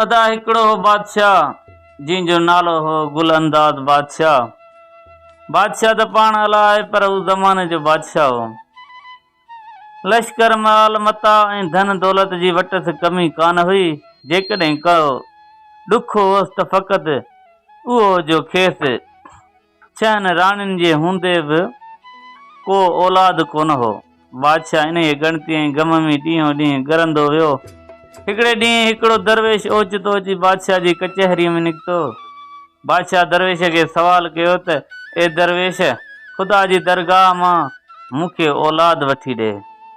ادا هڪڙو هو بادشاهه، جنهن جو نالو هو گل انداز بادشاهه. بادشاهه ته پاڻ الا آهي پر هو زماني جو بادشاهه هو. لشڪر، مال متاع ۽ ڌن دولت جي وٽس ڪمي ڪانه هئي، جيڪڏهن ڪو ڏک هوس ته فقط اهو جو کيس ڇهن راڻين جي هوندي به ڪو اولاد ڪونه هو. بادشاهه انهيء ڳڻتي ۽ غم ۾ ڏينهون ڏينهن ڳرندو ويو. هڪڙي ڏينهن هڪڙو درويش اوچتو اچي بادشاهه جي ڪچهريء ۾ نڪتو. بادشاهه درويش کي سوال ڪيو ته، اي درويش! خدا جي درگاهه مان مون کي اولاد وٺي ڏي.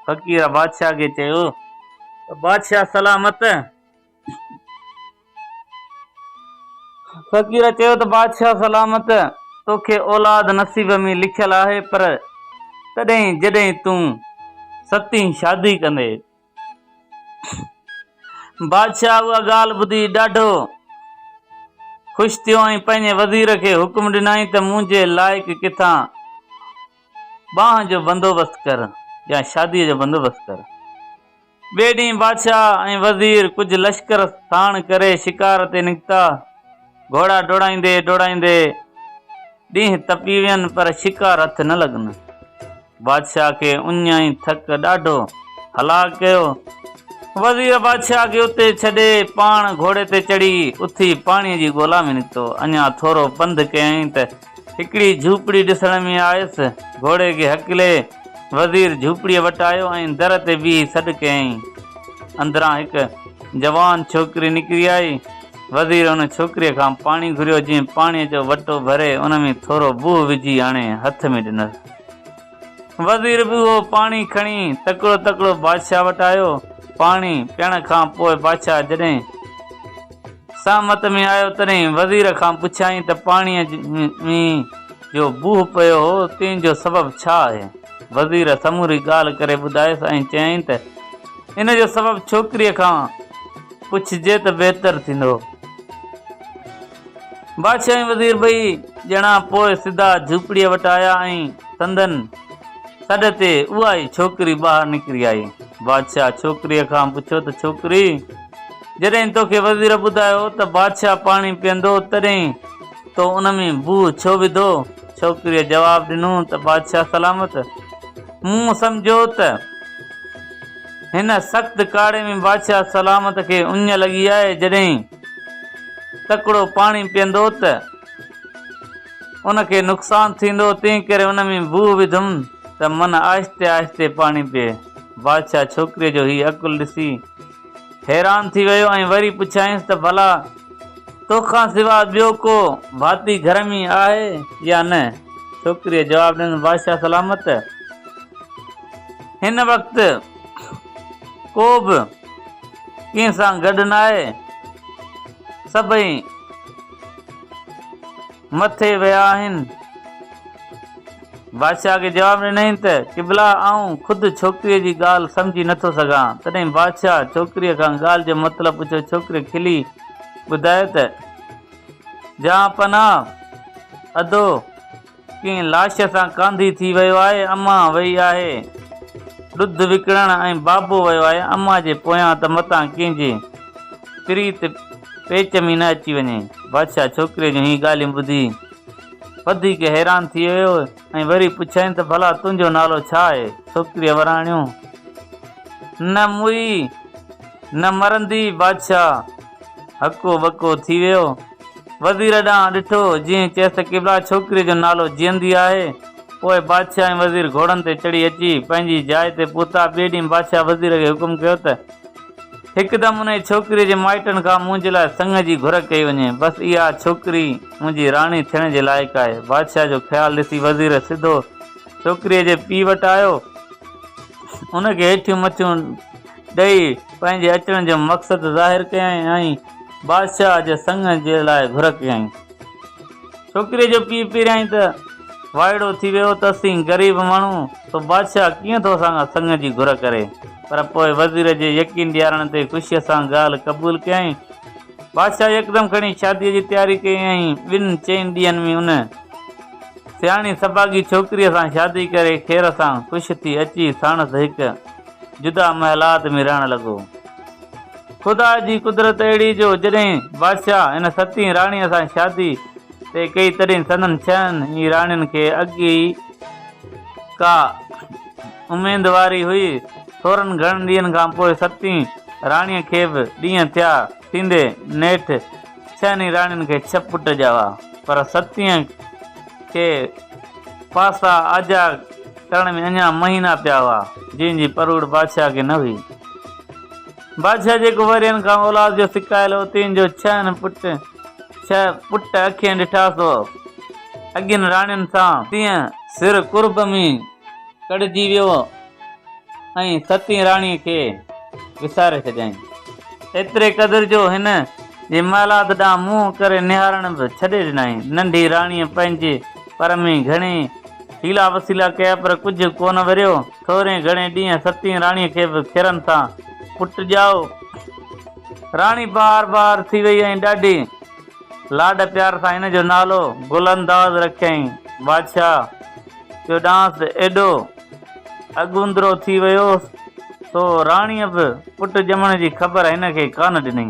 فقير بادشاهه کي چيو ته، بادشاهه سلامت! فقير چيو ته بادشاهه سلامت توکي اولاد نصيب ۾ لکيل آهي پر تڏهن جڏهن تون ستين شادي ڪندي. بادشاهه اها ڳالهه ٻڌي ڏاڍو خوش ٿيو ۽ پنهنجي وزير کي حڪم ڏنائين ته منهنجي لائق ڪٿان ٻانهن جو بندوبست ڪر يا شادي جو بندوبست ڪر. ٻئي ڏينهن بادشاهه ۽ وزير ڪجهه لشڪر ساڻ ڪري شڪار تي نڪتا. گهوڙا ڊوڙائيندي ڊوڙائيندي ڏينهن تپي وين پر شڪار هٿ نه لڳن. بادشاهه کي اڃ ۽ ٿڪ ڏاڍو هلاڪ ڪيو. وزير بادشاهه کي اتي ڇڏي پاڻ گهوڙي تي چڙهي اٿي پاڻي جي ڳولا ۾ نڪتو. اڃا ٿورو پنڌ ڪيائين ته هڪڙي جهوپڙي ڏسڻ ۾ آيس. گهوڙي کي هڪلي، وزير جهوپڙيء وٽ آيو ۽ در تي بيهي سڏ ڪيائين. اندران هڪ جوان ڇوڪري نڪري آئي. وزير ان ڇوڪريء کان پاڻي گهريو، جنهن پاڻيء جو وٽو ڀري، ان ۾ ٿورو بوء وجهي آڻي هٿ ۾ ڏنس. وزير به اهو پاڻي کڻي تڪڙو تڪڙو بادشاهه وٽ آيو. پاڻي پيئڻ کان پوء بادشاهه جڏهن سهمت ۾ آيو تڏهن وزير کان پڇيائين ته پاڻيء ۾ جو بوهه پيو هو تنهن جو سبب ڇا آهي؟ وزير سموري ڳالهه ڪري ٻڌايس ۽ چيائين ته ان جو سبب ڇوڪريء کان پڇجي ته بهتر ٿيندو. بادشاهه ۽ وزير ٻئي ڄڻا پوء سڌا جهوپڙيء وٽ آيا ۽ سندن سڏ تي اها ئي ڇوڪري ٻاهر نڪري آئي. بادشاهه ڇوڪريء کان پڇيو ته ڇوڪري! جڏهن توکي وزير ٻڌايو ته بادشاهه پاڻي پيئندو تڏهن تو ان ۾ بوهه ڇو وڌو؟ ڇوڪريء جواب ڏنو ته بادشاهه سلامت! مون سمجهيو ته هن سخت ڪاڙهي ۾ بادشاهه سلامت کي اڃ لڳي آهي، جڏهن تڪڙو پاڻي پيئندو ته ان کي نقصان ٿيندو، تنهن ڪري ان ۾ بوء وڌم ته من آهستي آهستي پاڻي پيئي. بادشاهه ڇوڪريء جو هي عقل ڏسي حيران ٿي ويو ۽ وري پڇيائينس ته ڀلا تو کان سواء ٻيو ڪو ڀاتي گهر ۾ آهي يا نه؟ ڇوڪريء جواب ڏنس بادشاهه سلامت هن وقت ڪو به ڪنهن سان گڏ ناهي سڀئي مٿي ويا آهن. بادشاهه کي جواب ڏنائين ته قبلا آئون خود ڇوڪريء جي ڳالهه سمجهي نٿو سگهان. تڏهن بادشاهه ڇوڪريء کان ڳالهه جو مطلب پڇيو ڇوڪري کلي ٻڌايو ته جهانپناهه ادو ڪنهن لاش سان ڪانڌي ٿي ويو آهي، اما ويئي آهي ڏڌ وڪڻڻ ۽ بابو ويو آهي اما جي پويان ته متان ڪنهن جي پريت پيچ ۾ نه اچي وڃي. بادشاهه ڇوڪري جون هي ڳالهيون ٻڌي وڌيڪ حيران ٿي ويو ۽ وري پڇيائين ته ڀلا تنهنجو نالو ڇا آهي؟ ڇوڪريء وراڻيو، نه موئي نه مرندي بادشاهه! هڪو ٻڪو ٿي ويو. وزير ڏانهن ڏٺو، جيئن چيس ته قبلا ڇوڪريء جو نالو جيئندي آهي. پوء بادشاهه ۽ وزير گهوڙن تي چڙهي اچي پنهنجي جاء تي پهتا. ٻئي ڏينهن بادشاهه وزير کي حڪم ڪيو ته هڪدم انهيء ڇوڪريء جي مائٽن کان منهنجي لاء سڱ جي گهر ڪئي وڃي. بس اها ڇوڪري منهنجي راڻي ٿيڻ جي لائق آهي. بادشاهه جو خيال ڏسي وزير سڌو ڇوڪريء جي پيء وٽ آيو. ان کي هيٺيون مٿيون. ڏئي پنهنجي اچڻ جو مقصد ظاهر ڪيائين ۽ بادشاهه جي سڱ جي لاء گهر ڪيائين. ڇوڪريء جو پيء پيريائين ته، وائڙو ٿي ويو ته اسين غريب ماڻهو، سو بادشاهه ڪيئن ٿو اسان کان سڱ جي گهر ڪري؟ پر پوء وزير جي يقين ڏيارڻ تي خوشيء سان ڳالهه قبول ڪيائين بادشاهه يڪدم کڻي شاديء جي تياري ڪيائين ۽ ٻن چئن ڏينهن ۾ ان سياڻي سڀاڳي ڇوڪريء سان شادي ڪري خير سان خوش ٿي اچي ساڻس هڪ جدا محلات ۾ رهڻ لڳو. خدا جي قدرت اهڙي جو جڏهن بادشاهه ان ستين راڻيء سان شادي طئي ڪئي تڏهن سندن ڇهن ئي راڻين کي اڳ ئي ڪا اميدواري هئي. ٿورن گهڻن ڏينهن کان پوء ستين راڻيء کي به ڏينهن ٿيا ٿيندي نيٺ ڇهن ئي راڻين کي ڇهه پٽ ڄاوا پر ستين کي پاسا آجيا ڪرڻ ۾ اڃا مهينا پيا هئا جنهن جي پروڙ بادشاهه کي نه هئي. بادشاهه جي ڪنورين کان اولاد جو سڪايل اوتين جو ڇهن پٽ ڇهه پٽ اکين ڏٺا سو اڳين راڻين سان تيئن سر قرب ۾ ڪڙهجي ويو ۽ ستين راڻي کي وساري ڇڏيائين ايتري قدر جو هن جي مالاد ڏانهن منهن ڪري نهارڻ به ڇڏي ڏنائين ننڍي راڻيء پنهنجي پر ۾ گهڻي حيلا وسيلا ڪيا پر ڪجهه ڪونه وريو. ٿورين گهڻين ڏينهن ستين راڻيء کي به کيرن سان پٽ ڄائو. راڻي بار بار ٿي وئي ۽ ڏاڍي لاڏ پيار سان هن جو نالو گل انداز رکيائين. بادشاهه جو ڏانهس ايڏو اڳوندرو ٿي ويو سو راڻيء به پٽ ڄمڻ جي خبر هن کي ڪانه ڏني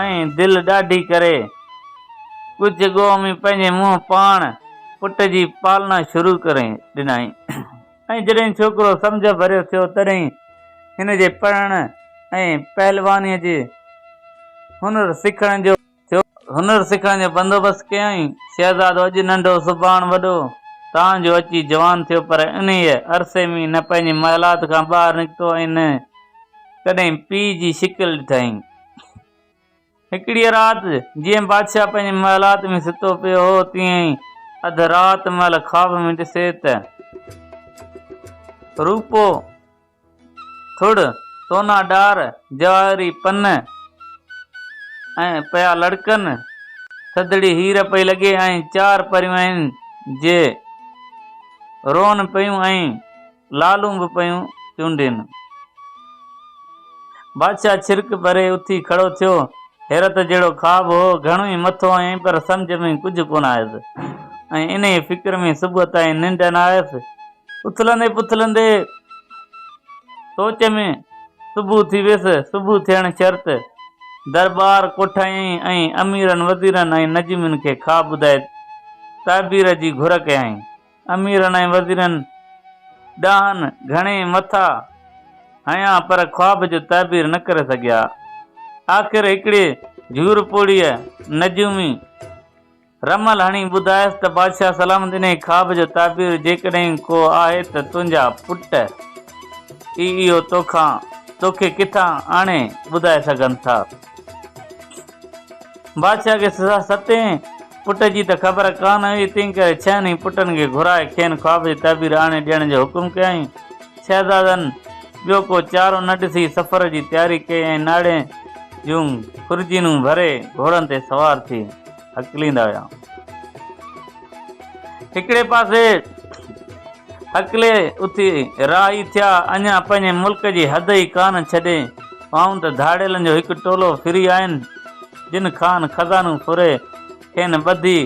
۽ دل ڏاڍي ڪري ڳجهه ڳوهه ۾ پنهنجي منهن پاڻ پٽ جي پالنا شروع ڪري ڏنائين. ۽ جڏهن ڇوڪرو سمجهه ڀريو ٿيو تڏهن هن جي پڙهڻ ۽ پهلوانيء جي هنر سکڻ جو ٿيو. هنر سکڻ جو بندوبست ڪيائين. شهزادو اڄ ننڍو سڀاڻ وڏو تان جو اچي جوان ٿيو پر انهيء عرصي ۾ نه پنهنجي محلات کان ٻاهر نڪتو ۽ نه ڪڏهن پيء جي شڪل ڏٺائين. هڪڙيء رات جيئن بادشاهه پنهنجي محلات ۾ ستو پيو هو، تيئن ئي اڌ رات مهل خواب ۾ ڏسي ته روپو، ٿڙ، سونا ڏار، جواهري پن ۽ پيا لڙڪن، ٿڌڙي هير پئي لڳي ۽ چار پريون آهن جي روئن پيون ۽. لالون به پيون چونڊين. بادشاهه ڇرڪ ڀري اٿي کڙو ٿيو. حيرت جهڙو خواب هو. گهڻو ئي مٿو هنيائين پر سمجهه ۾ ڪجهه ڪونه آيس ۽ انهيء فڪر ۾ صبح تائين ننڊ نه آيس. اٿلندي پٿلندي سوچ ۾ صبح ٿي ويس. صبح ٿيڻ شرط درٻار ڪوٺايائين ۽ اميرن وزيرن ۽ نجمين کي خواب ٻڌائي تعبير جي گهر ڪيائين. اميرن ۽ وزيرن ڏانھن گھڻي مٿا ھنيا پر خواب جو تعبير نه ڪري سگھيا. آخر ھڪڙي جھور پوڙھيء نجومي رمل ھڻي ٻڌايس ته بادشاھ سلامت انھيء خواب جو تعبير جيڪڏھن ڪو آھي ته تنھنجا پٽ ئي اھو توکان توکي ڪٿان آڻي ٻڌائي سگھن ٿا. بادشاهه کي ستين پٽ جي ته خبر ڪا نه هئي، تنهن ڪري ڇهن ئي پٽن کي گهرائي کين خواب جي تعبير آڻي ڏيڻ جو حڪم ڪيائين. شهزادن ٻيو ڪو چارو نه ڏسي سفر جي تياري ڪئي ۽ ناڙين جون خرجينون ڀري گهوڙن تي سوار ٿي. هڪليندا ويا. هڪڙي پاسي هڪلي اٿي راهي ٿيا، اڃا پنهنجي ملڪ جي حد ئي ڪانه ڇڏي هئائون ته ڌاڙيلن جو هڪ ٽولو ڦري آين، جن کان خزانو ڦري، کين ٻڌي،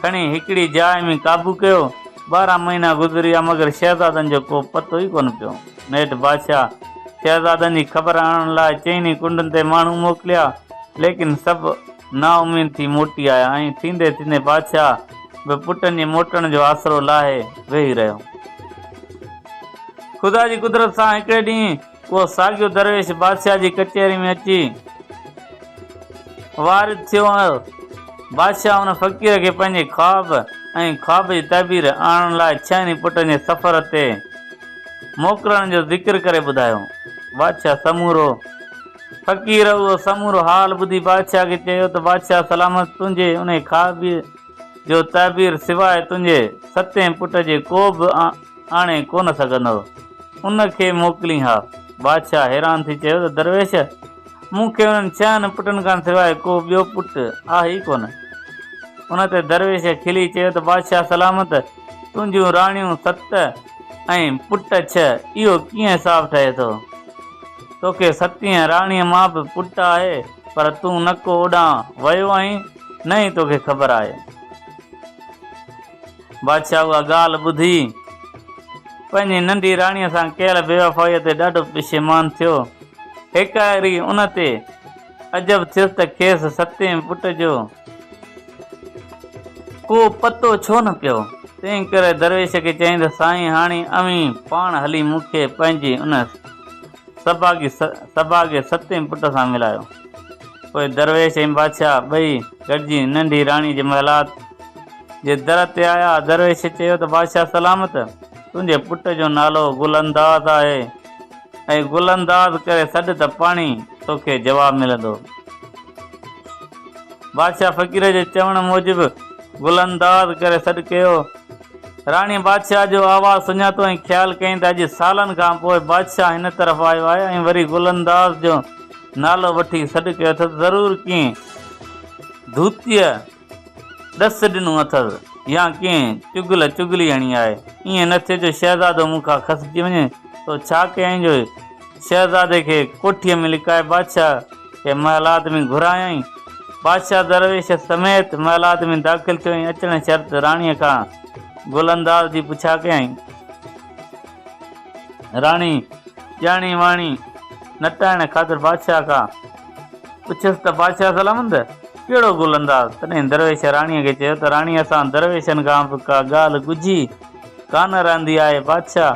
کڻي هڪڙي جاء ۾ قابو ڪيو. ٻارهن مهينا گذريا، مگر شهزادن جو ڪو پتو ئي ڪونه پيو. نيٺ بادشاهه شهزادن جي خبر آڻڻ لاء چئني ڪنڊن تي ماڻهو موڪليا، ليڪن سڀ نااميد ٿي موٽي آيا ۽ ٿيندي ٿيندي بادشاهه به پٽن جي موٽڻ جو آسرو لاهي ويهي رهيو. خدا جي قدرت سان هڪڙي ڏينهن اهو ساڳيو درويش بادشاهه جي ڪچهري ۾ اچي وارد ٿيو هو. بادشاهه ان فقير کي پنهنجي خواب ۽ خواب جي تعبير آڻڻ لاء ڇهن ئي پٽن جي سفر تي موڪلڻ جو ذڪر ڪري ٻڌايو. بادشاهه سمورو. فقير اهو سمورو حال ٻڌي بادشاهه کي چيو ته بادشاهه سلامت تنهنجي انهي خوابيء جو تعبير سواء تنهنجي ستين پٽ جي ڪو به آڻي ڪونه سگهندو. ان کي موڪلين ها. بادشاهه حيران ٿي چيو ته درويش! مون کي انهن ڇهن پٽن کان سواء ڪو ٻيو پٽ آهي ئي ڪونه. ان تي درويش کلي چيو ته بادشاهه سلامت تنهنجون راڻيون ست ۽ پٽ ڇهه اهو ڪيئن حساب ٺهي ٿو؟ توکي ستينء راڻيء مان به پٽ آهي، پر تون نه ڪو اوڏانهن ويو آهين، نه ئي توکي خبر آهي. بادشاهه اها ڳالهه ٻڌي، پنهنجي ننڍي راڻيء سان ڪيل بيوفائيء تي ڏاڍو پشيمان ٿيو. هيڪاري ان تي. عجب ٿيس ته کيس ستين پٽ جو ڪو پتو ڇو نه پيو، تنهنڪري درويش کي چيائين ته سائين هاڻي اوهين پاڻ هلي مون کي پنهنجي ان سڀاڳي سڀاڳي ستين پٽ سان ملايو. پوء درويش ۽ بادشاهه ٻئي گڏجي ننڍي راڻي جي محلات جي در تي آيا. درويش چيو ته بادشاهه سلامت، تنهنجي پٽ جو نالو گل انداز آهي. اي گل انداز ڪري سڏ ته پاڻهي توکي جواب ملندو. بادشاهه فقير جي چوڻ موجب گل انداز ڪري سڏ ڪيو. راڻي بادشاهه جو آواز سڃاتو ۽ خيال ڪيائين ته اڄ سالن کان پوء بادشاهه هن طرف آيو آهي ۽ وري گل انداز جو نالو وٺي سڏ ڪيو اٿس ضرور ڪنهن ڌوتيء ڏس ڏنو اٿس يا ڪنهن چغل چغلي هڻي آهي. ائين نه ٿئي جو شهزادو مون کان کسجي وڃي. تو ڇا ڪيائين جو شهزادي کي ڪوٺيء ۾ لڪائي بادشاهه کي محل آدمي گهرايائين. بادشاهه درويش سميت محل آدمي داخل ٿيو ۽ اچڻ شرط راڻيء کان گل انداز جي پڇا ڪيائين. راڻي، ڄاڻي واڻي، نٽائڻ خاطر بادشاهه کان پڇيس ته بادشاهه سلامت، ڪهڙو گل انداز؟ تڏهن درويش راڻيء کي چيو ته راڻي اسان درويشن کان به ڪا ڳالهه ڳجهي ڪانه رهندي آهي، بادشاهه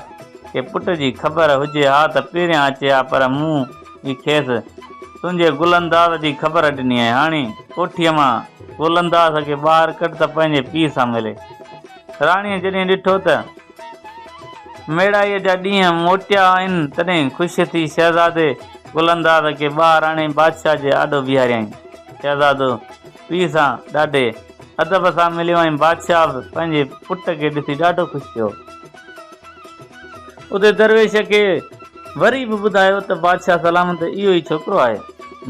کي پٽ جي خبر هجي ها ته پهريان اچي ها پر مون ئي کيس تنهنجي گل انداز جي خبر ڏني آهي، هاڻي ڪوٺيء مان گل انداز کي ٻاهر ڪڍ ته پنهنجي پيء سان ملي. راڻيء جڏهن ڏٺو ته. ميڙائيء جا ڏينهن موٽيا آهن، تڏهن خوش ٿي شهزادي گل انداز کي ٻاهر آڻي بادشاهه جي آڏو بيهاريائين. شهزادو پيء سان ڏاڍي ادب سان مليو ۽ بادشاهه به پنهنجي پٽ کي ڏسي ڏاڍو خوش ٿيو. اتي درويش کي وري به ٻڌايو ته بادشاهه سلام ته اهو ئي ڇوڪرو آهي،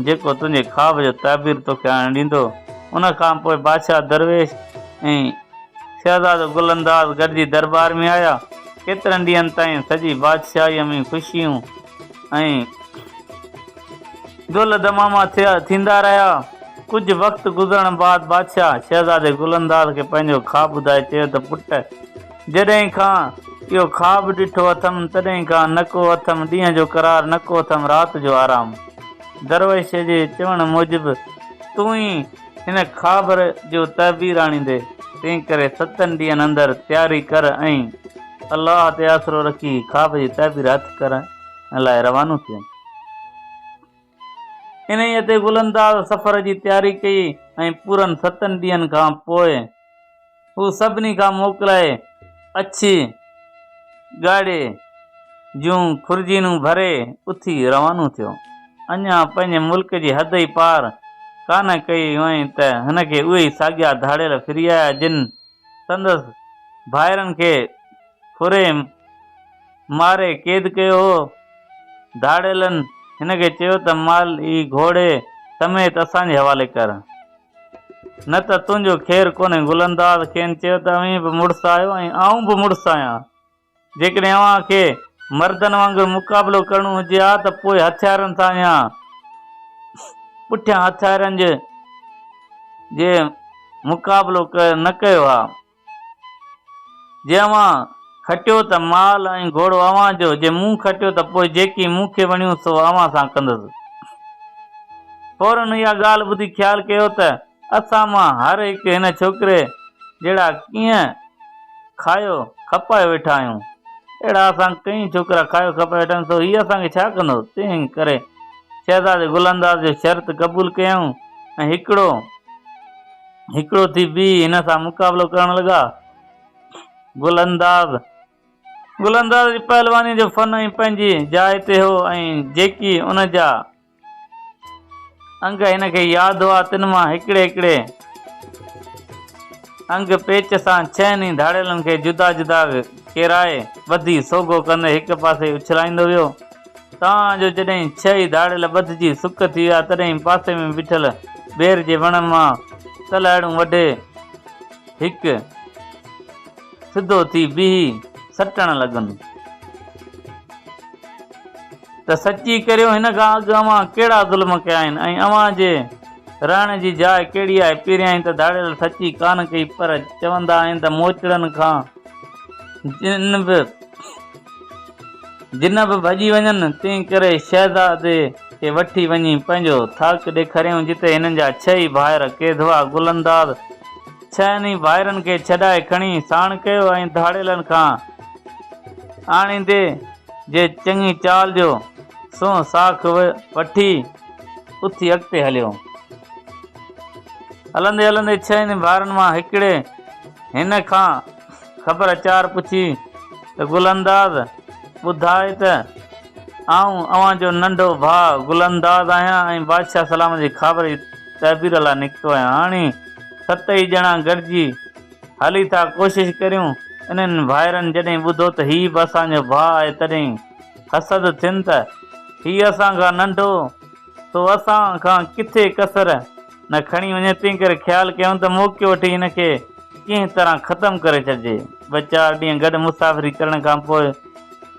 جيڪو تنهنجي خواب جو تعبير توکي آڻي ڏيندو. ان کان پوء بادشاهه درويش ۽ شهزادو گل انداز گڏجي دربار ۾ آيا. ڪيترن ڏينهن تائين سڄي بادشاهيء ۾ خوشيون ۽ دل دماما ٿيندا رهيا. ڪجهه وقت گذرڻ بعد بادشاهه شهزادي گل انداز کي پنهنجو خواب ٻڌائي چيو ته پٽ! جڏهن کان اهو خواب ڏٺو اٿم، تڏهن کان نه ڪو اٿم ڏينهن جو قرار، نه ڪو اٿم رات جو آرام. درويش جي چوڻ موجب تون ئي هن خابر جو تعبير آڻيندي، تنهنڪري ستن ڏينهن اندر تياري ڪر ۽ الله تي آسرو رکي خاب جي تعبير هٿ ڪرڻ لاء روانو ٿيون. انهيء تي گل انداز سفر جي تياري ڪئي ۽ پورن ستن ڏينهن کان پوء، هو سڀني کان موڪلائي اڇي ڳاڙهي جون خورجينون ڀري اٿي روانو ٿيو. اڃا پنهنجي ملڪ جي حد ئي پار ڪانه ڪئي هئائين ته هن کي اهي ئي ساڳيا ڌاڙيل ڦري آيا جن سندس ڀائرن کي ڦري ماري قيد ڪيو هو. ڌاڙيلن هن کي چيو ته مال ئي گهوڙي سميت اسان جي حوالي ڪر. نه ته تنهنجو خير ڪونهي. گل انداز کين چيو ته اوهين به مڙس آهيو ۽ آئون به مڙس آهيان. جيڪڏهن اوهان کي مردن وانگر مقابلو ڪرڻو هجي ها ته پوء هٿيارن سان يا پٺيان هٿيارن جي مقابلو نه ڪيو ها. جي اوهان کٽيو ته مال ۽ گهوڙو اوهان جو، جي مون کٽيو ته پوء جيڪي مون کي وڻيون سو اوهان سان ڪندس. ڦورن اها ڳالهه ٻڌي خيال ڪيو ته اسان مان هر هڪ هن ڇوڪري جهڙا ڪيئن کايو کپايو ويٺا آهيون. اهڙا اسان ڪئين ڇوڪرا کايو کپايو ويٺا آهيون سو هيء اسان کي ڇا ڪندو؟ تنهن ڪري شهزادي گل انداز جو شرط قبول ڪيائون ۽ هڪڙو. هڪڙو ٿي بيهي هن سان مقابلو ڪرڻ لڳا. گل انداز گل انداز جي پهلوانيء جو فن ائين پنهنجي جاء تي هو ۽ جيڪي ان جا انگ هن کي ياد هئا تن مان هڪڙي هڪڙي انگ پيچ سان ڇهن ئي ڌاڙيلن کي جدا جدا ڪيرائي ٻڌي سوگهو ڪندي هڪ پاسي اڇلائيندو ويو. تان جو جڏهن ڇهي ڌاڙيل ٻڌجي سڪ ٿي ويا تڏهن پاسي ۾ بيٺل بير جي وڻن مان تلهاڙون وڍي هڪ سڌو ٿي بيهي سٽڻ لڳن ته سچي ڪريو هن کان اڳ اوهان ڪهڙا ظلم ڪيا آهن ۽ اوهان جي رهڻ جي جاء ڪهڙي آهي پيريائين ته ڌاڙيل سچي ڪانه ڪئي پر چوندا آهن ته موچڙن کان جن به جن به ڀڄي وڃن، تنهن ڪري شهزادي کي وٺي وڃي پنهنجو ٿاڪ ڏيکاريائون، جتي هنن جا ڇهه ئي ڀائر ڪيڌوا گل انداز ڇهن ئي ڀائرن کي ڇڏائي کڻي ساڻ ڪيو ۽ ڌاڙيلن کان آڻيندي جي چڱي چال جو سونهن ساک وٺي اٿي اڳتي هليو. هلندي هلندي ڇهن ئي ڀائرن مان هڪڙي هن کان خبر اچار پڇي ته گل انداز ٻڌاء ته آئون اوهان جو ننڍو ڀاء گل انداز آهيان ۽ بادشاهه سلام جي خابر جي تعبير لاء نڪتو آهيان. هاڻي ست ئي ڄڻا گڏجي هلي ٿا ڪوشش ڪريون. انهن ڀائرن جڏهن ٻڌو ته هي به اسان جو ڀاء آهي تڏهن حسد ٿين ته هي اسان کان ننڍو. سو اسان کان ڪٿي ڪسر نه کڻي وڃي تنهن ڪري خيال ڪيائون ته موقعو وٺي هن کي ڪنهن طرح ختم ڪري ڇڏجي. ٻه چار ڏينهن گڏ مسافري ڪرڻ کان پوء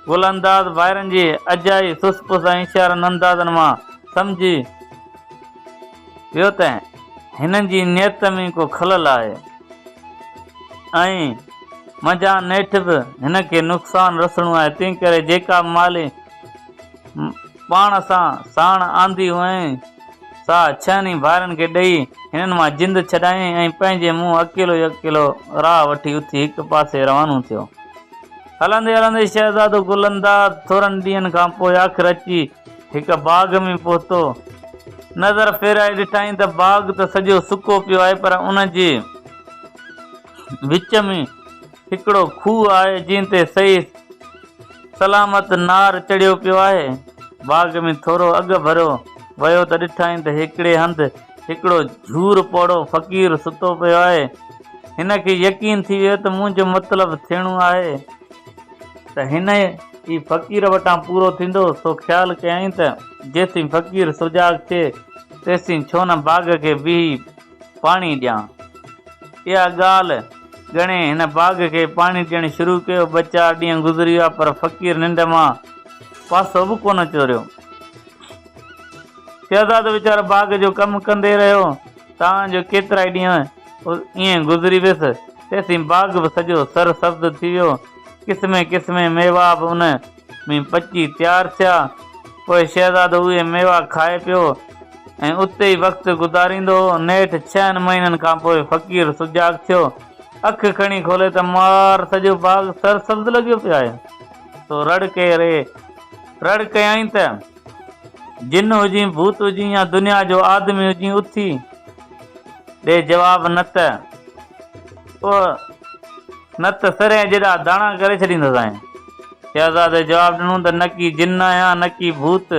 گل انداز ڀائرن جي اجائي سس پس ۽ اشارن اندازن مان سمجهي ويو ته هنن جي نيت ۾ ڪو خلل آهي ۽ منجهان نيٺ به هن کي نقصان رسڻو آهي تنهن ڪري جيڪا به مالي پاڻ سان ساڻ آندي هئائين، سا ڇهن ئي ڀائرن کي ڏئي، هنن مان جند ڇڏايائين ۽ پنهنجي منهن اڪيلو ئي اڪيلو راهه وٺي اٿي هڪ پاسي روانو ٿيو. هلندي هلندي شهزادو گل انداز ٿورن ڏينهن کان پوء آخر اچي هڪ باغ ۾ پهتو. نظر ڦيرائي ڏٺائين ته باغ ته سڄو سڪو پيو آهي پر ان جي. وچ ۾ هڪڙو کوهه آهي جنهن تي صحيح سلامت نار چڙهيو پيو آهي. باغ ۾ ٿورو اڳ ڀريو ويو ته ڏٺائين ته هڪڙي هنڌ هڪڙو جهور پوڙهو فقير ستو پيو آهي. هن کي يقين ٿي ويو ته منهنجو مطلب ٿيڻو آهي. ته هن ئي فقير وٽان پورو ٿيندو سو خيال ڪيائين ته جيسين فقير سجاڳ ٿئي تيسين ڇو نه باغ کي بيهي پاڻي ڏيان. اها ڳالهه ڳڻي هن باغ کي پاڻي ڏيڻ شروع ڪيو. ٻه چار ڏينهن گذري ويا پر فقير ننڊ مان پاسو به ڪونه چوريو. شهزادو ويچارو باغ جو ڪم ڪندي رهيو تان جو ڪيترائي ڏينهن ائين گذري ويس. تيسين باغ به سڄو سر سبز ٿي ويو. قسمين قسمين ميوا به ان ۾ پچي تيار ٿيا. پوء شهزادو اهي ميوا کائي پيو ۽ اتي ئي وقت گذاريندو هو. نيٺ ڇهن مهينن کان پوء فقير سجاڳ ٿيو. اک کڻي کولي ته مار سڄو باغ سرسبز لڳيو پيو آهي. سو رڙ ڪيئي ري. رڙ ڪيائين ته. جن هجين ڀوت هجين يا دنيا جو آدمي هجين اٿي ڏي جواب نه ته اوء نه ته سر ۽ جيڏا داڻا ڪري ڇڏيندسانء. شهزادي جواب ڏنو ته نڪي جن آهيان نڪي ڀوت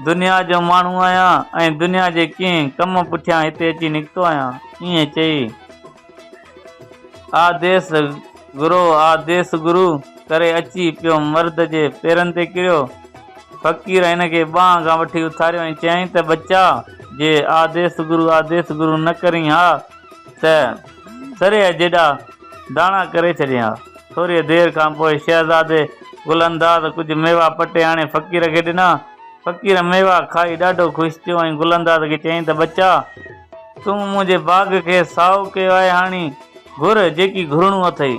دنيا جو ماڻهو آهيان ۽ دنيا جي ڪنهن ڪم پٺيان هتي اچي نڪتو آهيان. ائين چئي. آء ديس گرو آء ديس گرو ڪري اچي پيو مرد جي پيرن تي ڪريو. فقير هن کي ٻانهن کان وٺي اٿاريو ۽ چيائين ته ٻچا جي آء ديس گرو آء ديس گرو نه ڪرين ها ته سريهه جيڏا داڻا ڪري ڇڏين ها. ٿوريء دير کان پوء شهزادي گل انداز ڪجهه ميوا پٽي آڻي فقير کي ڏنا. فقير ميوا کائي ڏاڍو خوش ٿيو ۽ گل انداز کي چيائين ته ٻچا! تون منهنجي باغ کي سائو ڪيو آهي هاڻي گهر جيڪي گهرڻو اٿئي.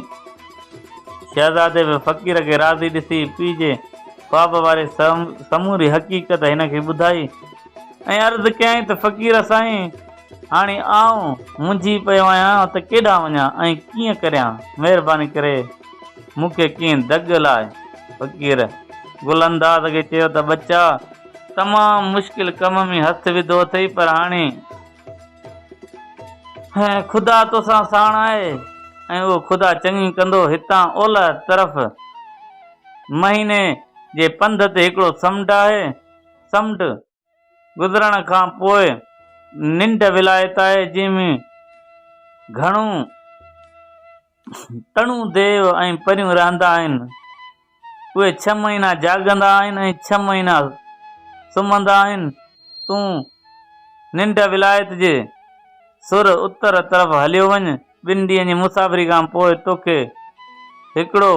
شهزادي به فقير کي راضي ڏسي پيء جي خواب واري سموري حقيقت هن کي ٻڌائي ۽ عرض ڪيائين ته فقير سائين هاڻي آئون منجهي پيو آهيان ته ڪيڏانهن وڃان ۽ ڪيئن ڪريان مهرباني ڪري مون کي ڪنهن دڳ لاء فقير گل انداز کي چيو ته ٻچا! تمام مشڪل ڪم ۾ هٿ وڌو اٿئي پر هاڻي خدا توسان ساڻ آهي ۽ اهو خدا چڱي ڪندو هتان اولهه طرف مهيني جي پنڌ تي هڪڙو سمنڊ آهي سمنڊ گذرڻ کان پوء ننڊ ولايت آهي جنهن ۾ گهڻو تڻون ديو ۽ پريون رهندا آهن. اهي ڇهه مهينا جاڳندا آهن ۽ ڇهه مهينا سمهندا آهن. تون ننڊ ولايت جي سر اتر طرف هليو وڃ. ٻن ڏينهن جي مسافري کان پوء توکي هڪڙو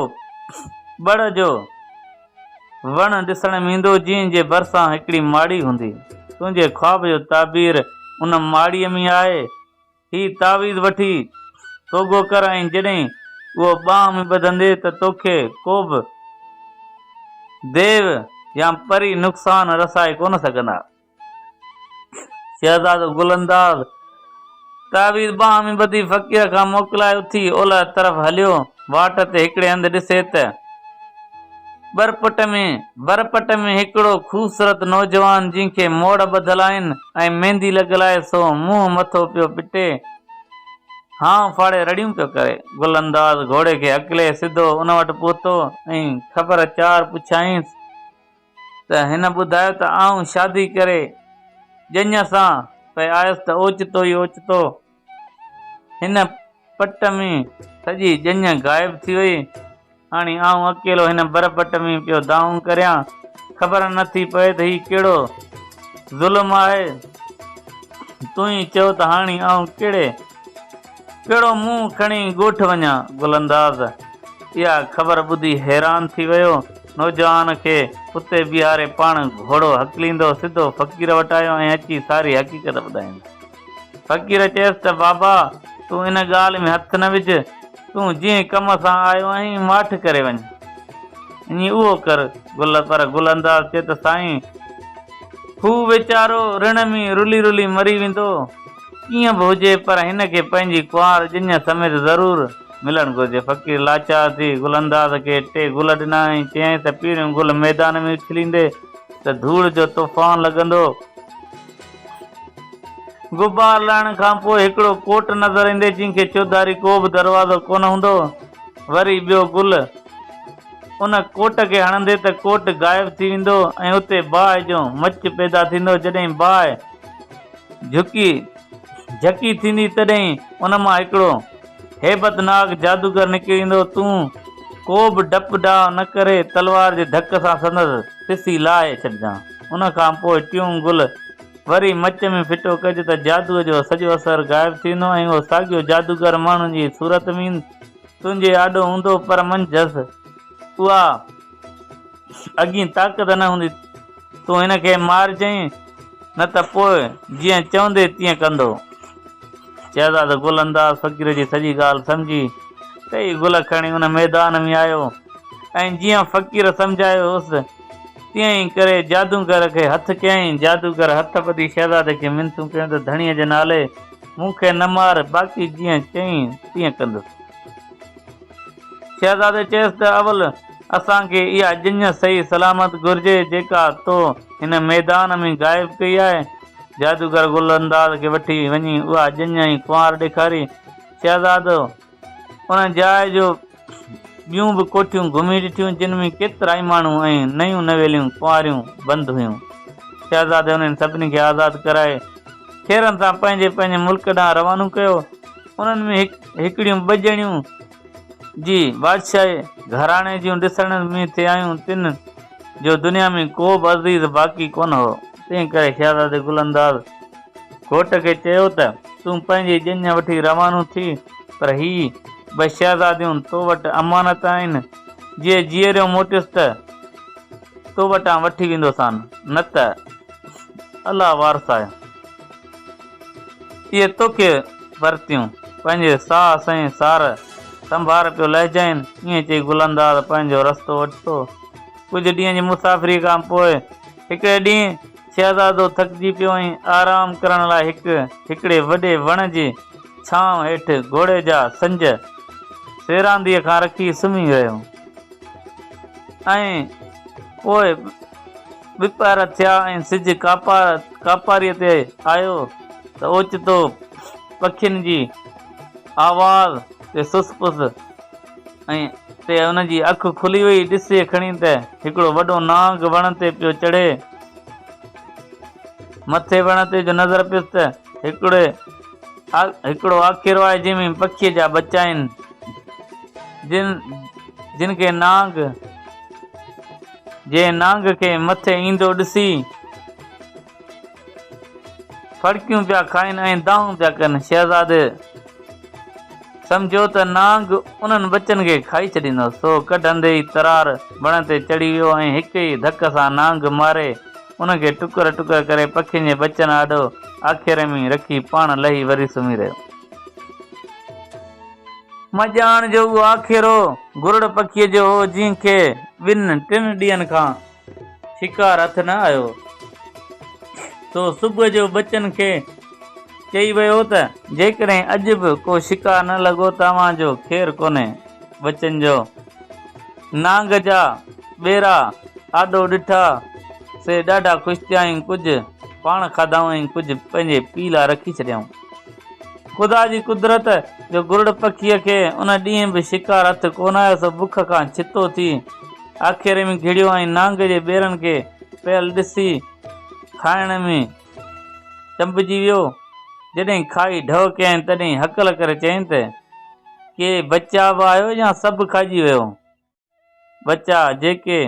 ٻڙ جو وڻ ڏسڻ ۾ ايندو، جنهن جي ڀرسان هڪڙي ماڙي هوندي. تنهنجي خواب جو تعبير ان ماڙيء ۾ آهي. هي تعويذ وٺي سوگهو ڪر ۽ جڏهن اهو ٻانهن ۾ ٻڌندي ته توکي ڪوبه ديو يا پري نقصان رسائي ڪونه سگهندا. شهزادو گل انداز تعويذ ٻانهن ۾ ٻڌي فقير کان موڪلائي اٿي اولهه طرف هليو. واٽ تي هڪڙي هنڌ ڏسي ته. ٻرپٽ ۾، برپٽ ۾ هڪڙو خوبصورت نوجوان جنهن کي موڙ ٻڌل آهن ۽ ميندي لڳل آهي سو منهن مٿو پيو پٽي هانء ڦاڙي رڙيون پيو ڪري. گل انداز گهوڙي کي هڪلي سڌو ان وٽ پهتو ۽ خبر چار پڇيائينس ته هن ٻڌايو ته آئون شادي ڪري ڄڃ سان پئي آيس ته اوچتو ئي اوچتو هن پٽ ۾ سڄي ڄڃ غائب ٿي وئي. هاڻي آئون اڪيلو هن برپٽ ۾ پيو دانهون ڪريان. خبر نه ٿي پئي ته هي ڪهڙو ظلم آهي. تون ئي چئو ته هاڻي آئون ڪهڙي ڪهڙو منهن کڻي ڳوٺ وڃان. گل انداز اها خبر ٻڌي حيران ٿي ويو. نوجوان کي اتي بيهاري پاڻ گهوڙو هڪليندو سڌو فقير وٽ آيو ۽ اچي ساري حقيقت ٻڌائيندس. فقير چيس ته بابا تون ان ڳالهه ۾ هٿ نه وجهه، تون جنهن ڪم سان آيو آهين ماٺ ڪري وڃ. اڃي اهو ڪر. گل پر گل انداز چي ته سائين هو ويچارو رڻ ۾ رلي رلي مري ويندو، ڪيئن به هجي پر هن کي پنهنجي ڪنوار ڄڃ سميت ضرور ملڻ گهرجي. فقير لاچار ٿي گل انداز کي ٽي گل ڏنا ۽ چيائين ته پهريون گل ميدان ۾ اڇليندي ته ڌوڙ جو طوفان لڳندو. غبار لهڻ کان پوء هڪڙو ڪوٽ نظر ايندي جنهن کي چوڌاري ڪو به دروازو ڪونه هوندو هو. وري ٻيو گل. ان ڪوٽ کي هڻندي ته ڪوٽ غائب ٿي ويندو ۽ اتي باهه جو مچ پيدا ٿيندو. جڏهن باهه جهڪي جهڪي ٿيندي تڏهن ان مان هڪڙو هيبت ناڪ جادوگر نڪري ايندو هو. تون ڪو به ڊپ ڊاء نه ڪري تلوار جي ڌڪ سان سندس پسي لاهي ڇڏجان. ان کان پوء ٽيون گل وري مچ ۾ ڦٽو ڪج ته جادوء جو سڄو اثر غائب ٿي ويندو ۽ اهو ساڳيو جادوگر ماڻهن جي صورت ۾ تنهنجي آڏو هوندو پر منجهس اها اڳين طاقت نه هوندي تون هن کي مارجئين نه ته پوء جيئن چوندي تيئن ڪندو. شهزاد گل انداز فقير جي سڄي ڳالهه سمجهي ٽئي گل کڻي ان ميدان ۾ آيو ۽ جيئن فقير سمجهايو هوس، تيئن ئي ڪري جادوگر کي هٿ ڪيائين. جادوگر هٿ ٻڌي شهزادي کي منٿون ڪيون ته ڌڻيء جي نالي مون کي نه مار، باقي جيئن چئين تيئن ڪندس. شهزادي چيس ته اول اسان کي اها ڄڃ صحيح سلامت گهرجي جيڪا تو هن ميدان ۾ غائب ڪئي آهي. جادوگر گل انداز کي وٺي وڃي اها ڄڃ ۽ ڪنوار ڏيکاري. شهزادو! ان جاء جو ٻيون به ڪوٺيون گهمي ڏٺيون جن ۾ ڪيترائي ماڻهو ۽ نيون نويليون ڪنواريون بند هيون. شهزادي انهن سڀني کي آزاد ڪرائي ڇيرن سان پنهنجي پنهنجي ملڪ ڏانهن روانو ڪيو. انهن ۾ هڪ هڪڙيون ٻه ڄڻيون جي بادشاهي گهراڻي جون ڏسڻ ۾ ٿي آيون تن جو دنيا ۾ ڪو به عزيز باقي ڪونه هو. تنهن ڪري شهزادي گل انداز گهوٽ کي چيو ته تون پنهنجي ڄڃ وٺي روانو ٿي پر هي ٻه شهزاديون تو وٽ امانت آهن، جي جيئريو موٽيس ته تو وٽان وٺي ويندوسان، نه ته الله وارث آهي، اهي توکي ورتيون. پنهنجي ساهه سهين سار سنڀار پيو لهجائين. ائين چئي گل انداز پنهنجو رستو وٺتو. ڪجهه ڏينهن جي مسافريء کان پوء هڪڙي ڏينهن. شهزادو ٿڪجي پيو ۽ آرام ڪرڻ لاء هڪ هڪڙي وڏي وڻ جي ڇانو هيٺ گهوڙي جا سنج سيرانديء کان رکي سمهي رهيو ۽ پوء ٻپهر ٿيا ۽ سج ڪاپاريء تي آيو ته اوچتو پکين جي آواز تي سس پس ۽ تي ان جي اک کلي وئي، ڏسي کڻي ته هڪڙو وڏو نانگ وڻ تي پيو چڙهي. مٿي وڻ تي جو نظر پيس ته هڪڙي هڪڙو آکيرو آهي جنهن ۾ پکيء جا ٻچا آهن، جن جن کي نانگ جنهن نانگ کي مٿي ايندو ڏسي، ڦڙڪيون پيا کائن ۽ دانهون پيا ڪن. شهزادي سمجهيو ته نانگ انهن ٻچن کي کائي ڇڏيندو، سو ڪڍندي ئي ترار وڻ تي چڙهي ويو ۽ هڪ ئي ڌڪ سان نانگ ماري ان کي ٽڪر ٽڪر ڪري پکين جي ٻچن آڏو آکيري ۾ رکي پاڻ لهي وري سمهي رهيو. مان ڄاڻ جو اهو آکيرو گرڙ پکيء جو هو جنهن کي ٻن ٽن ڏينهن کان شڪار هٿ نه آيو. سو صبح جو ٻچن کي چئي ويو ته. جيڪڏهن اڄ به ڪو شڪار نه لڳو ته اوهان جو خير ڪونهي. ٻچن جو نانگ جا ٻيرا آڏو ڏٺا. سي ڏاڍا خوش ٿيا ۽ ڪجهه پاڻ کاڌائون ۽ ڪجهه پنهنجي پيء لاء رکي ڇڏيائون. خدا جي قدرت جو گرڙ پکيء کي ان ڏينهن به شڪار هٿ ڪونه آيو سو بک کان ڇتو ٿي. آکيري ۾ گهڙيو ۽ نانگ جي ٻيرن کي پيل ڏسي کائڻ ۾ چنبجي ويو. جڏهن کائي ڍؤ ڪيائين تڏهن هڪل ڪري چيائين ته، ڪي ٻچا به آيو يا سڀ کائجي ويو؟ ٻچا جيڪي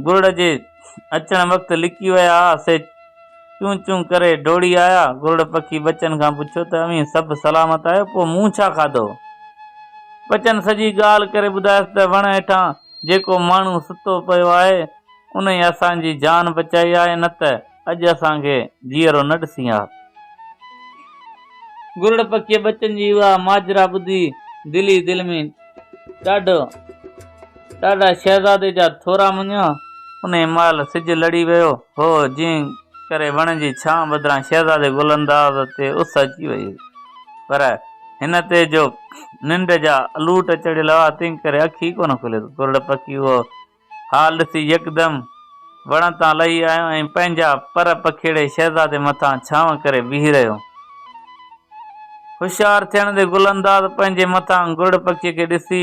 گرڙ جي اچڻ وقت لڪي ويا ها سي چون چون ڪري ڊوڙي آيا. گرڙ پکي ٻچن کان پڇيو ته اوهين سڀ سلامت آهيو پوء مون ڇا کاڌو؟ ٻچن سڄي ڳالهه ڪري ٻڌايس ته وڻ هيٺان جيڪو ماڻهو ستو پيو آهي انهي اسان جي جان بچائي آهي نه ته اڄ اسان کي جيئرو نه ڏسين ها. گرڙ پکيء ٻچن جي اها ماجرا ٻڌي دل ئي دل ۾ ڏاڍو ڏاڍا شهزادي جا ٿورا مڃيو. انهيء مهل سج لڙي ويو هو، جنهن ڪري وڻ جي ڇانء بدران شهزادي گل انداز تي اس اچي وئي هئي. پر هن تي جو ننڊ جا الوٽ چڙهيل هئا، تنهن ڪري اک ئي ڪونه کليس. گرڙ پکي اهو ها ڏسي يڪدم وڻ تان لهي آيو ۽ پنهنجا پر پکيڙي شهزادي مٿان ڇانو ڪري بيهي رهيو. هوشيار ٿيڻ تي گل انداز پنهنجي مٿان گرڙ پکي کي ڏسي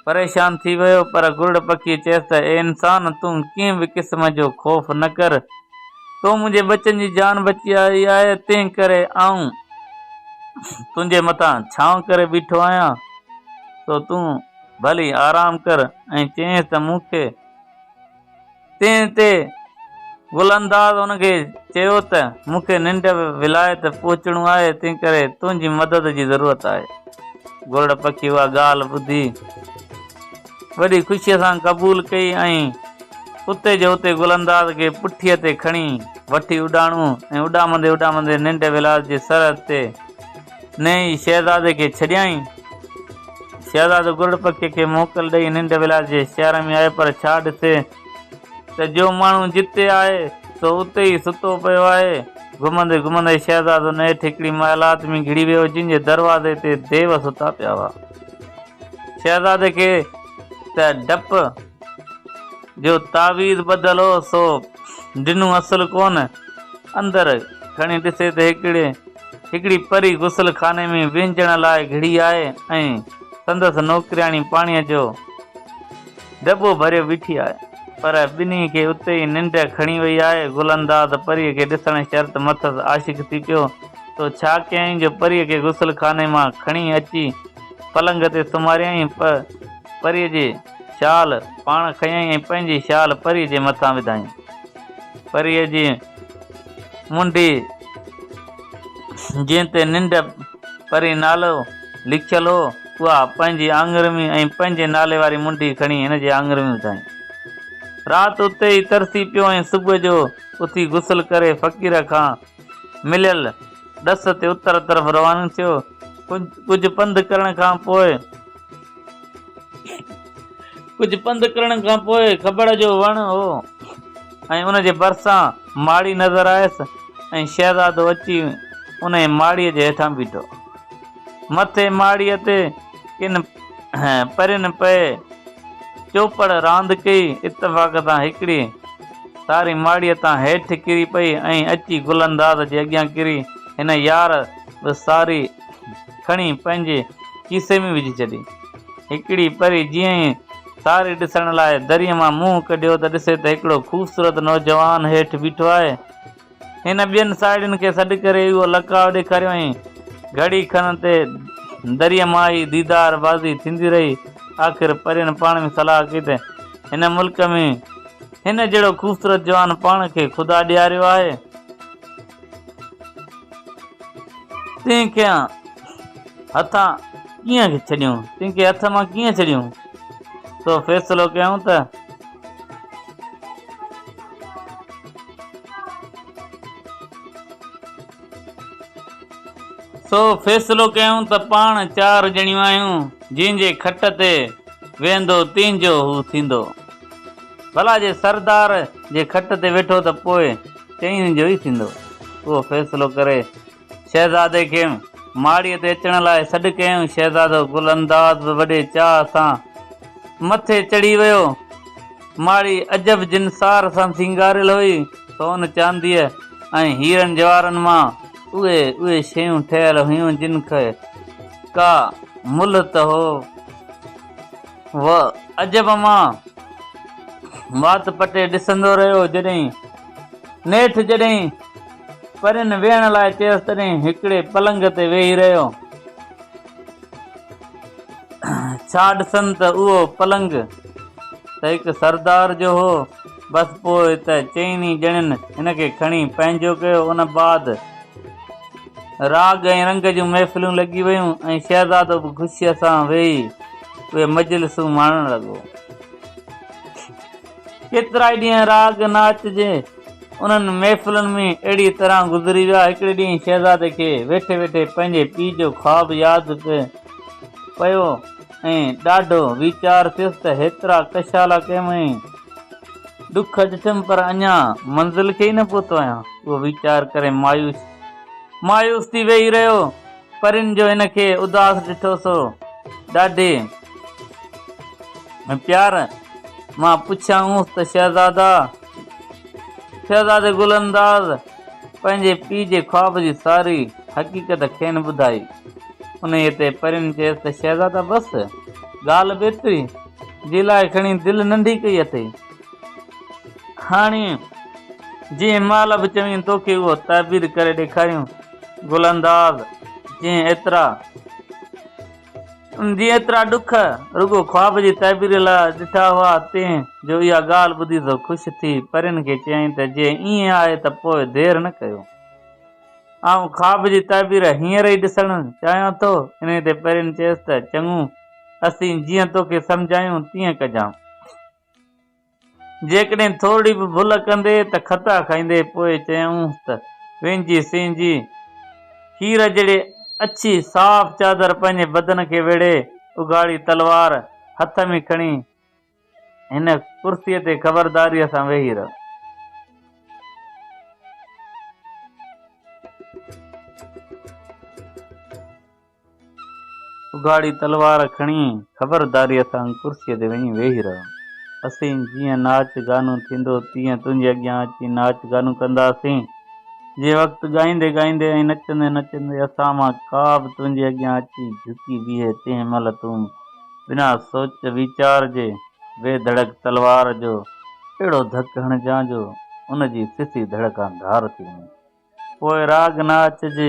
پريشان ٿي ويو پر گرڙ پکي چيس ته اي انسان تون ڪنهن به قسم جو خوف نه ڪر تو منهنجي ٻچن جي جان بچائي آهي تنهن ڪري آئون تنهنجي مٿان ڇانو ڪري بيٺو آهيان سو تون ڀلي آرام ڪر ۽ چيائينس ته مون کي تنهن تي گل انداز ان کي چيو ته مون کي ننڊ ولايت پهچڻو آهي تنهن ڪري تنهنجي مدد جي ضرورت آهي گرڙ پکي اها ڳالهه ٻڌي وڏي خوشي سان قبول ڪئي ۽ اتي جو اتي گل انداز کي پٺي تي کڻي وٺي اڏاڻو ۽ اڏامندي اڏامندي ننڊ ولايت جي سرحد تي نئين ئي شهزادي کي ڇڏيائين. شهزادو گرڙ پکي کي موڪل ڏئي ننڊ ولايت جي شهر ۾ آيو پر ڇا ڏسي ته جو ماڻهو جتي آهي سو اتي ئي ستو پيو آهي. گهمندي گهمندي شهزادو نيٺ هڪڙي محلات ۾ گهڙي ويو جنهن جي دروازي تي ديو ستا پيا هئا. شهزادي کي ته ڊپ جو تعويذ ٻڌل هو سو ڊنو اصل ڪونه. اندر کڻي ڏسي ته هڪڙي هڪڙي پري غسل خاني ۾ وهنجڻ لاء گهڙي آئي ۽ سندس نوڪرياڻي پاڻيء جو دٻو ڀريو بيٺي آهي، پر ٻنهي کي اتي ئي ننڊ کڻي وئي آهي. گل انداز پريء کي ڏسڻ شرط مٿس عاشق ٿي پيو. تو ڇا ڪيائين جو پريء کي غسل خاني مان کڻي اچي پلنگ تي سمهاريائين؟ پ پريء جي شال پاڻ کنيائين ۽ پنهنجي شال پريء جي مٿان وڌائين. پريء جي. منڊي، جنهن تي ننڊ پرين نالو لکيل هو، اها پنهنجي آڱريون ۽ پنهنجي نالي واري منڊي کڻي هن جي آڱريون وڌائين. رات اتي ئي ترسي پيو ۽ صبح جو اٿي غسل ڪري فقير کان مليل ڏس تي اتر طرف روانو ٿيو. ڪجهه پنڌ ڪرڻ کان پوء. ڪجهه پنڌ ڪرڻ کان پوء کبڙ جو وڻ هو ۽ ان جي ڀرسان ماڙي نظر آيس ۽ شهزادو اچي انهيء ماڙيء جي هيٺان بيٺو. مٿي ماڙيء تي ڪن پرين پئي چوپڙ راند ڪئي، اتفاق سان هڪڙي تاري ماڙيء تان هيٺ ڪري پئي ۽ اچي گل انداز جي اڳيان ڪري هن يار به ساري کڻي پنهنجي کيسي ۾ وجهي ڇڏي. هڪڙي پري جيئن ئي تاري ڏسڻ لاء دريء مان منهن ڪڍيو ته ڏسي ته هڪڙو خوبصورت نوجوان هيٺ بيٺو آهي. هن ٻين ساهيڙين کي سڏ ڪري اهو لقاء ڏيکاريائين. گهڙي کن تي دريء مان ئي ديدار بازي ٿيندي رهي. آخر پرين پاڻ ۾ صلاح ڪئي ته هن ملڪ ۾ هن جهڙو خوبصورت جوان پاڻ کي خدا ڏياريو آهي. تنهن کيان هٿان ڪيئن ڇڏيون تنهن کي هٿ مان ڪيئن ڇڏيون سو فيصلو ڪيائون ته سو فيصلو ڪيائون ته پاڻ چار ڄڻيون آهيون جنهن جي کٽ تي ويهندو تنهن جو هو ٿيندو ڀلا جي سردار جي کٽ تي ويٺو ته پوء چئن جو ئي ٿيندو اهو فيصلو ڪري شهزادي کي ماڙيء تي اچڻ لاء سڏ ڪيائون. شهزادو گل انداز به وڏي چاهه سان مٿي چڙهي ويو. ماڙي عجب جنسار سان سينگاريل هئي. سون، چانديء ۽ هيرن جواهرن مان اهي اهي شيون ٺهيل هيون جن کي ڪا ملهه ته هو. و عجب مان وات پٽي ڏسندو رهيو جڏهن نيٺ جڏهن پرين ويهڻ لاء چيس تڏهن هڪڙي پلنگ تي ويهي رهيو ڇا ڏسن ته اهو پلنگ ته هڪ سردار جو هو بس پوء ته چئني ڄڻين هن کي کڻي پنهنجو ڪيو ان بعد راڳ ۽ رنگ جون محفلون لڳي ويون ۽ شهزادو به خوشيء سان ويهي اهي مجلسون ماڻڻ لڳو. ڪيترائي ڏينهن راڳ ناچ جي انهن محفلن ۾ اهڙيء طرح گذري ويا. هڪڙي ڏينهن شهزادي کي ويٺي ويٺي پنهنجي پيء جو خواب ياد پيو ۽ ڏاڍو ويچار ٿيس ته هيترا ڪشالا ڪيم ۽ ڏک ڏٺم پر اڃا منزل کي ئي نه پهتو آهيان. اهو ويچار ڪري مايوس. مايوس ٿي ويهي رهيو. پرين جو هن کي اداس ڏٺو سو ڏاڍي پيار مان پڇيائونس ته شهزادا! شهزادي گل انداز پنهنجي پيء جي خواب جي ساري حقيقت کين ٻڌائي. انهيء تي پرين چيس ته شهزادا بس ڳالهه به ايتري جي لاء کڻي دل ننڍي ڪئي اٿئي. هاڻي جنهن مال به چوين توکي اهو تعبير ڪري ڏيکاريون گل انداز جنهن ايترا جنهن ايترا ڏک رڳو خواب جي تعبير لاء ڏٺا هئا تنهن جو اها ڳالهه ٻڌي سو خوش ٿي پرين کي چيائين ته جي ائين آهي ته پوء دير نه ڪيو آئون خواب جي تعبير هينئر ئي ڏسڻ چاهيان ٿو انهي تي پرين چيس ته چڱو اسين جيئن توکي سمجهايون تيئن ڪجان جيڪڏهن ٿورڙي به ڀل ڪندي ته کتا کائيندي پوء چيائونس ته وينجي سينجي کير جهڙي اڇي صاف چادر پنهنجي بدن کي ويڙهي اگهاڙي تلوار هٿ ۾ کڻي هن ڪرسيء تي خبرداريء سان ويهي رهه. اگهاڙي تلوار کڻي خبرداريء سان ڪرسيء تي وڃي ويهي رهيو. اسين جيئن ناچ گانو ٿيندو تيئن تنهنجي اڳيان اچي ناچ گانو ڪنداسين. جنهن وقت ڳائيندي ڳائيندي ۽ نچندي نچندي اسان مان ڪا به تنهنجي اڳيان اچي جهڪي بيهي تنهن مهل تون بنا سوچ ويچار جي بي ڌڙڪ تلوار جو اهڙو ڌڪ هڻجان جو ان جي سسي ڌڙڪان ڌار ٿي وڃي. پوء راڳ ناچ جي.